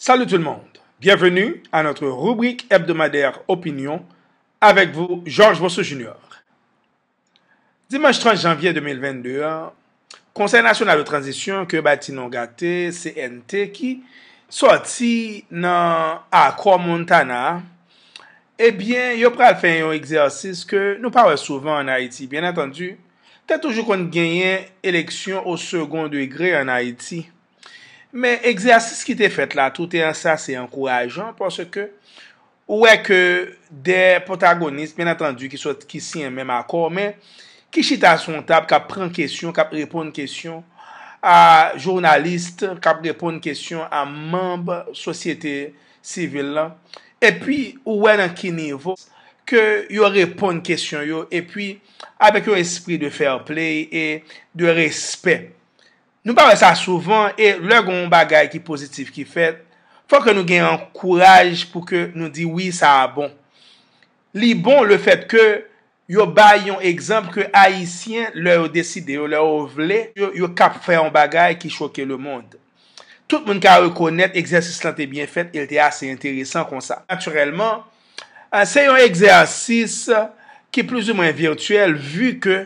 Salut tout le monde! Bienvenue à notre rubrique hebdomadaire opinion avec vous Georges Bossou Junior. Dimanche 30 janvier 2022 an, Konsèy Nasyonal de Tranzisyon ke yo bay ti non gate CNT ki sòti nan Akò Montana a, ebyen yo pral fè yon egzèsis ke nou pa wè souvan an Ayiti. Byen antandu, te toujou konn genyen eleksyon o segon degre an Ayiti. Men egzèsis ki te fèt la toute an sa se ankourajan paske ou wè ke 2 pwotagonis byen antandi ki sot ki siyen menm akò men ki chita sou yon tab kap pran kesyon kap reponn kesyon a journalist kap reponn kesyon a manb sosyete sivil lan epi ou wè nan ki nivo ke yo reponn kesyon yo epi avèk yon espri de fair play e de respè Nou pa wè sa souvan e lè gen yon bagay ki pozitif ki fèt, fò ke nou gen yon kouraj pou ke nou di wi sa a bon. Li bon le fèt ke yo bay yon egzanp ke Ayisyen lè yo deside yo, lè yo vle, yo kap fè yon bagay ki choke le mond. Tout moun ka rekonèt egzèsis lan te byen fèt e l te ase enteresan konsa. Natirèlman, se yon egzèsis ki plizoumwen virtyèl vu ke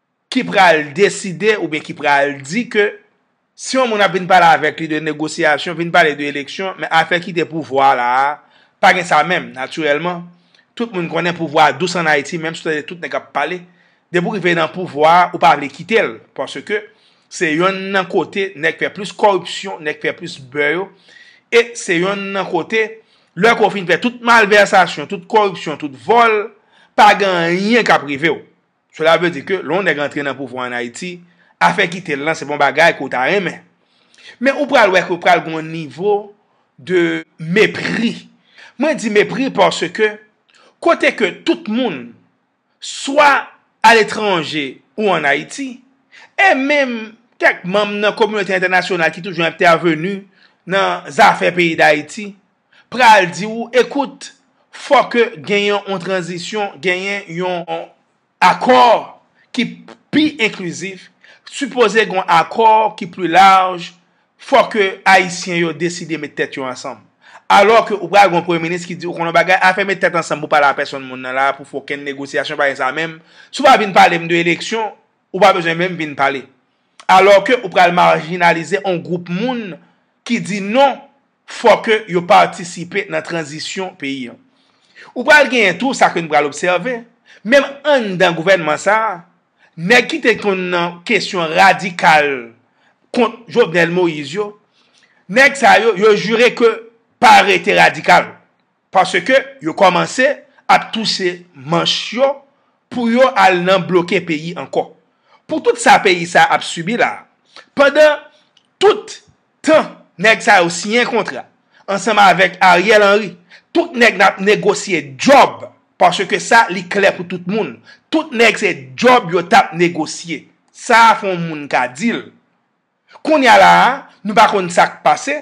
ki pral deside oubyen ki pral di ke si yon moun ap vin pale avèk li de negosyasyon, vin pale de eleksyon, men afè kite pouvwa la a, pa gen sa menm. Natirèlman, tout moun konnen pouvwa a dous ann Ayiti, menm si w tande tout nèg ap pale, depi w rive nan pouvwa a, ou pa vle kite l, paske se yonn nan kote nèg fè plis kòripsyon, nèg fè plis bè yo, e se yonn nan kote, lè ke w fin fè tout malvèsasyon, tout kòripsyon, tout vòl, pa gen anyen k ap rive w. Sela vle di ke lè yon nèg antre nan pouvwa an Ayiti, afè kite l lan se pa yon bagay ke w ta renmen. Men ou pral wè ke pral gen yon nivo de mepri. Mwen di mepri paske kote ke tout moun swa aletranje ou an Ayiti, e menm kèk manm nan kominote entènasyonal ki toujou entèveni nan zafè peyi Dayiti, pral di ou ekout fò ke genyen yon tranzisyon, genyen yon akò ki pi enklizif, sipoze gen yon akò ki pli laj, fò ke Ayisyen yo deside met tèt yo ansanm. Alò ke ou pral gen yon premye minis ki di ou konnen yon bagay, afè met tèt ansanm pou pale a pèsonn moun nan la a, pou fè okenn negosyasyon pa gen sa menm, si ou pa vin pale m de eleksyon, ou pa bezwen menm vin pale. Alò ke ou pral marjinalize yon gwoup moun ki di non. fò ke yo patisipe nan tranzisyon peyi an. Ou pral genyen tou sa ke nou pral obsève, menm anndan gouvènman sa a, nèg ki te konn nan kesyon radikal kont Jovenel Moïse yo, nèg sa yo, yo jire ke pa rete radikal. Paske yo komanse ap touse manch yo pou yo al nan bloke peyi anko. Pou tout sa peyi sa ap sibi la, pandan tout tan neg sa yo siyen kontra ansanm avek Ariel Henry, tout neg nap negosye job, paske sa li kle pou tout moun, tout neg se job yo tap negosye. Sa fon moun ka dil. Kounya la a, nou pa konn sa k pase,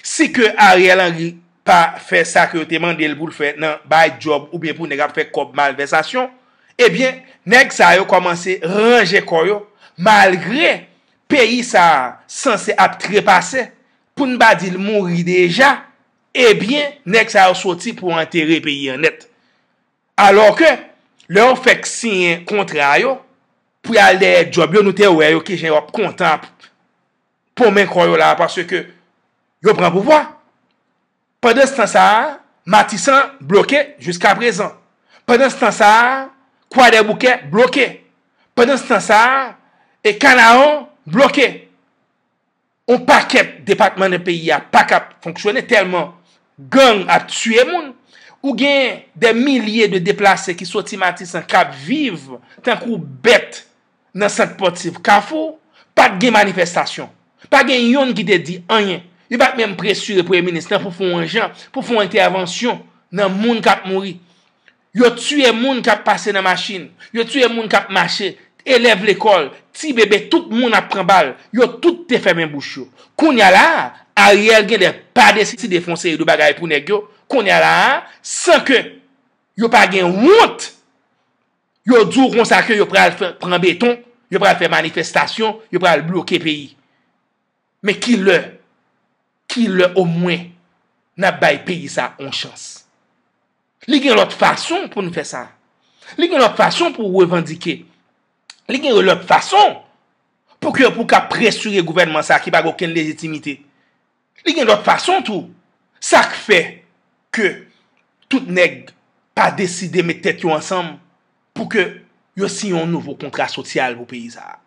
si ke Ariel Henry pa fè sa ke yo te mande l pou l fè nan bay djòb oubyen pou nèg ap fè kòb malvèsasyon, ebyen, nèg sa yo kòmanse ranje kò yo, malgre peyi sa a sanse ap trepase, pou n pa di l mouri deja, ebyen, nèg sa yo soti pou antere peyi an nèt. Alò ke, lè yo fèk siyen kontra yo, Pou yo al dèyè djòb yo nou te wè yo kijan yo ap kontan ap ponmen kò yo la paske yo pran pouvwa. Pandanstan sa a Matisan bloke jiskaprezan. Pandanstan sa a Kwadèboukè bloke. Pandanstan sa a Kanaran bloke. On pakèt depatman nan peyi a pa ka fonksyone tèlman gang ap tiye moun. Ou gen dè milye de deplase ki soti Matisan k ap viv tankou bèt nan sant pòtiv Kafou. Pa t gen manifestasyon. Pa gen youn ki te di anyen. Yo pa t menm presire premye minis lan pou fon jan, pou fon entèvansyon nan moun k ap mouri. Yo tiye moun k ap pase nan machin, yo tiye moun k ap mache, elèv lekòl, ti bebe tout moun ap pran bal, yo tout te fèmen bouch yo. Kounya la a, Ariel gen lè pa deside fè yon seri de bagay pou nèg yo, kounya la a, san ke yo pa gen wont, yo di w konsa ke yo pral pran beton, yo pral fè manifestasyon, yo pral bloke peyi. Men ki lè, ki lè omwen n ap bay peyi sa a yon chans? Li gen lòt fason pou nou fè sa. Li gen lòt fason pou revandike. Li gen lòt fason pou ke pou ka presire gouvènman sa ki pa gen okenn lejitimite. Li gen lòt fason tou. Sa k fè ke tout nèg pa deside met tèt yo ansanm pou ke yo siyen yon nouvo kontra sosyal pou peyi sa a.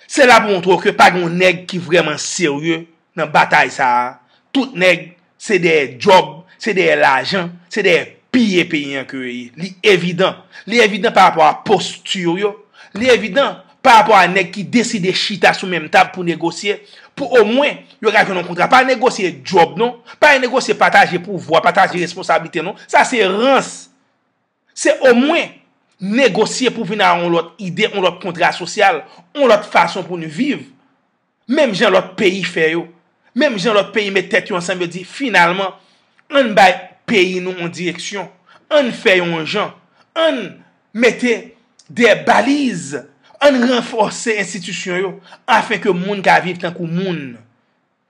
Se la pou montre w ke pa gen yon nèg ki vrèman serye nan batay sa a, tout nèg se dèyè djòb, se dèyè lajan, se dèyè piye peyi an ke yo ye. Li evidan. Li evidan pa rapò a posti yo, li evidan pa rapò a nèg ki deside chita sou menm tab pou negosye, pou omwen yo ka jwenn yon kontra. Pa negosye djòb non, pa negosye pataje pouvwa, pataje responsablite non. Sa se rans. Se omwen, negosye pou vin a yon lòt ide, yon lòt kontra sosyal, yon lòt fason pou n viv. Menm jan lòt peyi fè yo. Menm jan lòt peyi met tèt yo ansanm yo di, finalman, ann bay peyi nou yon direksyon. Ann fè yon jan. Ann mete de baliz. Ann ranfòse enstitisyon yo. Afen ke moun ka viv tankou moun.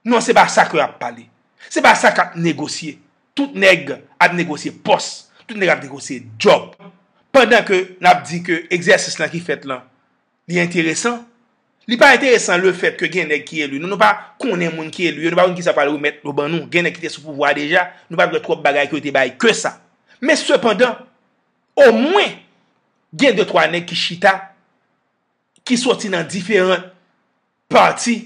Non se pa sa ke ap pale. Se pa sa kap negosye. Tout nèg ap negosye pòs. Tout nèg ap negosye djòb. Pandan ke nap di ke egzèsis lan ki fèt lan li enteresan. Li pa enteresan le fèt ke gen nèg ki eli. Nou nou pa konnen moun ki eli yo. Nou pa konnen kisa yo pral remèt yo ban nou. Gen nèg ki te sou pouvwa a deja. Nou pa dwe twòp bagay ke yo te bay ke sa. Men sepandan, o mwen gen de twa nèg ki chita, ki soti nan diferan Pati,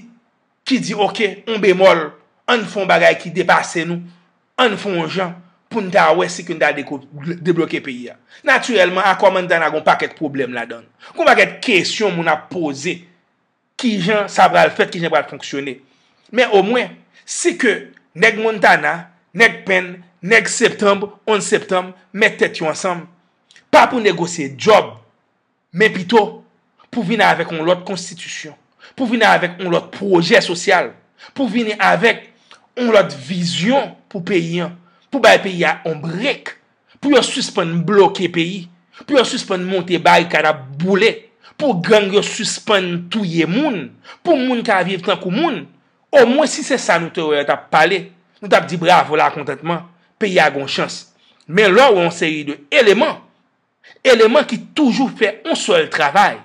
ki di ok, on bemòl, ann fè on bagay ki depase nou, ann fè on jan pou n ta wè si ke n ta debloke peyi a. Natirèlman, akò Montana gen on pakèt pwoblèm ladan l. Gen on pakèt kesyon moun ap poze. Ki jan sa pral fèt, ki jan l pral fonksyone. Men omwen, si ke nèg Montana, nèg Penn, nèg Septanb, 11 Septanb, mèt tèt yo ansanm, pa pou negosye djòb, Men pito, pou vini avèk yon lòt konstitisyon, pou vini avèk yon lòt pwojè sosyal, pou vini avèk yon lòt vizyon pou peyi an, pou bay peyi a yon brek, pou yo sispann bloke peyi, pou yo sispann monte barikad ap boule, pou gang yo sispann touye moun, pou moun ka viv tankou moun, omwen si se sa nou te wè yo t ap pale, nou t ap di bravo lakontantman, peyi a gen yon chans. Men lè w wè yon seri de eleman. eleman ki toujou fè yon sèl travay,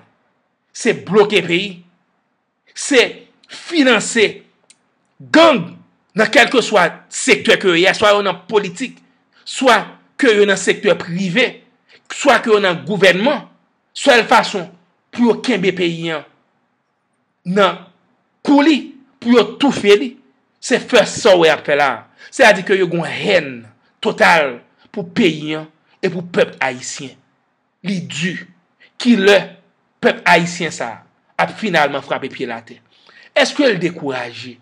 se bloke peyi, se finanse gang nan kelke swa sektè ke yo ye, swa yo nan politik, swa ke yo nan sektè prive, swa ke yo nan gouvènman, sèl fason pou yo kenbe peyi an. nan kou li pou yo toufe li, se first sa w wè y ap fè la a. Se a di ke yo gen yon hèn total pou peyi an e pou pèp ayisyen. Li di, ki lè pèp ayisyen sa a ap finalman frape pye l atè? Eske l dekouraje?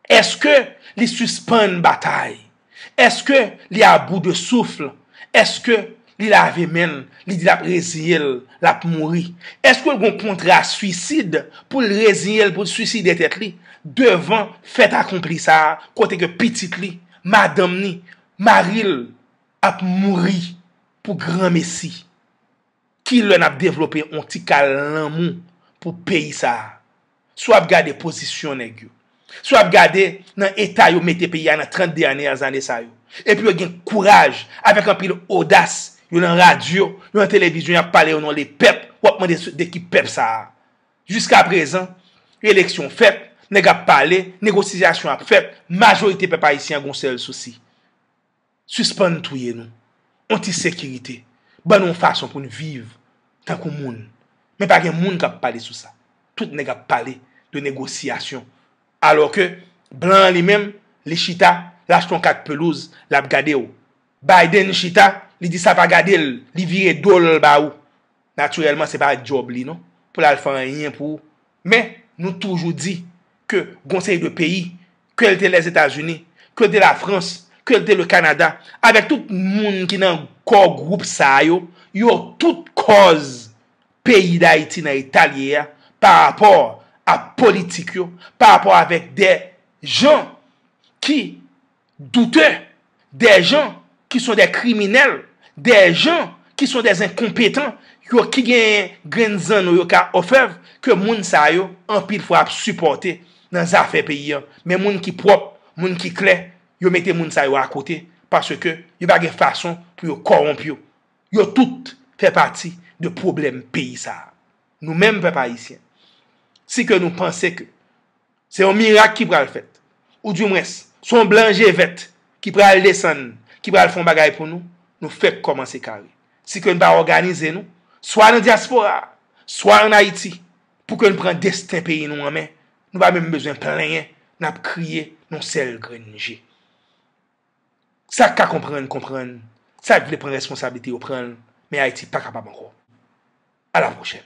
Eske li sispann batay? Eske li a bout de souffle? Eske li lave men l, li di l ap reziye l, l ap mouri? Eske l gon kontra swisid pou l reziye l pou l swiside tèt li devan fèt akonpli sa a kote ke pitit li, madanm ni, mari l ap mouri pou granmesi? Ki lè nap devlope on ti kal lanmou pou peyi sa a? Si w ap gade pozisyon nèg yo, si w ap gade nan eta yo mete peyi a nan 30 dènyè zane sa yo, epi yo gen kouraj avèk anpil odas yo nan radyo, yo nan televizyon y ap pale o non de pèp, w ap mande de ki pèp sa a? Jiska prezan, eleksyon fèt, nèg ap pale, negosiyasyon ap fèt, majorite pèp ayisyen an gen on sèl sousi. Sispann touye nou. On ti sekirite. Ban nou on fason pou n viv tankou moun. Men pa gen moun k ap pale sou sa. Tout nèg ap pale de negosyasyon. Alò ke blan an li menm, li chita, l achte on kat pelouz, l ap gade ou. Biden chita, li di sa pa gade l, li vire do l ba ou. Natirèlman se pa djòb li non, pou l al fè anyen pou ou. Men, nou toujou di, ke gon seri de peyi, ke l te Lèzetazini, ke l te Lafrans, ke l te le Kanada, avèk tout moun ki nan kò gwoup sa a yo, yo tout kòz peyi Dayiti nan eta l ye a, pa rapò a politik yo, pa rapò avèk de jan ki. doutè, dè jan ki son dè kriminèl, dè jan ki son dè zenkonpetan, yo ki genyen grenn zanno yo ka òfèv, ke moun sa yo anpil fwa ap sipòte nan zafè peyi an. Men moun ki pwòp, moun ki klè, yo mete moun sa yo akote, paske yo pa gen fason pou yo kòwonp yo. Yo tout fè pati de pwoblèm peyi sa a. Nou menm pèp ayisyen, si ke nou panse ke, Se yon mirak ki pral fèt. Ou di mwens, se yon blan je vèt ki pral desann, ki pral fè yon bagay pou nou. Nou fèk kòmanse kare. Si ke n pa òganize nou, swa nan dyaspora a, swa ann Ayiti, pou ke n pran desten peyi nou an men, nou pa menm bezwen plenyen, n ap kriye nan yon sèl grenn je. Sa k ka konprann, konprann. Sa k vle pran responsablite yo pran l, men Ayiti pa kapab ankò. A la pwochèn.